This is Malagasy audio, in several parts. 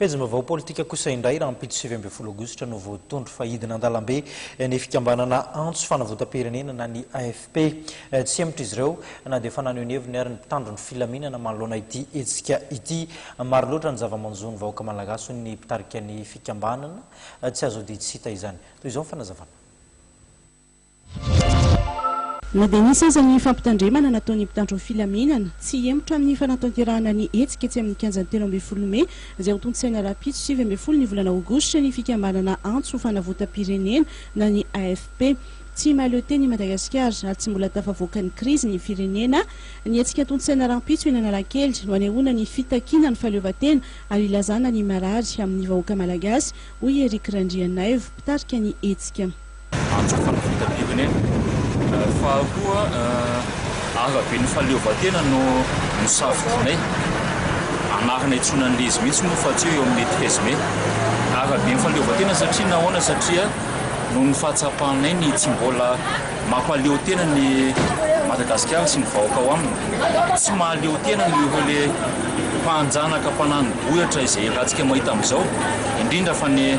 Pejim-baovao politika kosa indray, rahampitso sivy ambin'ny folo aogositra no voatondro fa hidina an-dalambe ny fikambanana Antso Fanavotam-pirenena na ny AFP. Tsy hemotra izy ireo na dia efa naneho ny heviny ary ny mpitandro ny filaminana manoloana ity hetsika ity. Maro loatra ny zava-manjo ny vahoaka malagasy hoy ny mpitarika ny fikambanana. Tsy azo ody tsy hita izany. Toy izao ny fanazavana. Na dia nisy aza ny fampitandremana nataon'ny mpitandro ny filaminana, tsy hihemotra amin'ny fanatanterahana ny hetsika etsy amin'ny kianjan'ny telo ambin'ny folo mey, izay ho tontosaina rahampitso sivy ambin'ny folo ny volana aogositra, ny fikambanana antso fanavotam-pirenena na ny AFP. Tsy mahaleotena i Madagasikara ary tsy mbola tafavoaka ny krizy ny firenena. Ny hetsika tontosaina rahampitso eny Analakely no hanehoana ny fitakiana ny fahaleovantena ary hilazana ny marary amin'ny vahoaka malagasy, hoy i Eric Randrianaivo, mpitarika ny hetsika. antso fanampitam-pirenena ary fa koa araben'ny fahaleovantena no nosafidianay anarana itsoina an'ilay izy mihitsy moa fa tsy hoe eo amin'ny treize mai araben'ny fahaleovantena satria nahoana satria noho ny fahatsapanay ny tsy mbola mampaleo tena ny Madagasikara sy ny vahoaka ao aminy tsy mahaleo tena ny ireo le mpanjanaka mpananobohitra izay ratsika mahita amin'izao indrindra fa ny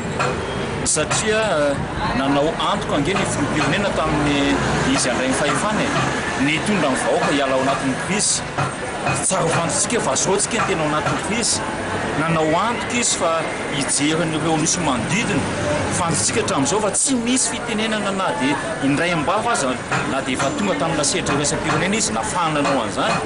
Satria nanao antoko ange ny filoham-pirenena tamin'ny izy handray ny fahefana e! Ny hitondra ny vahoaka hiala ao anatin'ny krizy. Tsara ho fantatsika fa zao tsika no tena ao anatin'ny krizy. Nanao antoko izy fa hijery an'ireo nosy manodidina. Fantatsika hatramin'izao fa tsy misy fitenenana na dia indray am-bava aza na dia efa tonga tamin'ilay sehatra iraisam-pirenena izy nafahana nanao an'izany.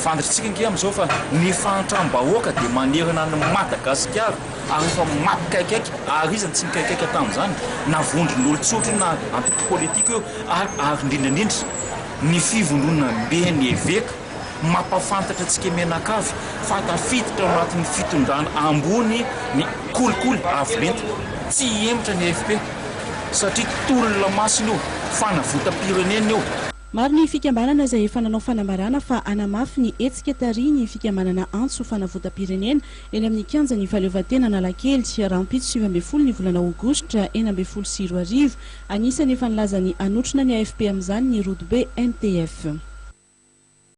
Fantatr'tsika ange amin'izao fa ny fahantram-bahoaka dia manerana an'i Madagasikara. ary efa maty kaikaiky, ary iza no tsy nikaikaika tamin'izany? na vondron'olon-tsotra io na antoko politika io ary ary indrindra indrindra ny fivondronambe ny eveka mampafantatra antsika mianakavy fa tafiditra ao anatin'ny fitondrana ambony ny kolikoly avo lenta tsy hihemotra ny AFP satria tolona masina io, fanavotam-pirenena io. Maro ny fikambanana izay efa nanao fanambarana fa hanamafy ny hetsika tarihin'ny fikambanana Antso Fanavotam-pirenena eny amin'ny Kianjan'ny Fahaleovantena Analakely, rahampitso sivy ambin'ny folo ny volana Aogositra enina ambin'ny folo sy roa arivo. Anisan'ny efa nilazany hanotrona ny AFP amin'izany ny Rodobe MTF.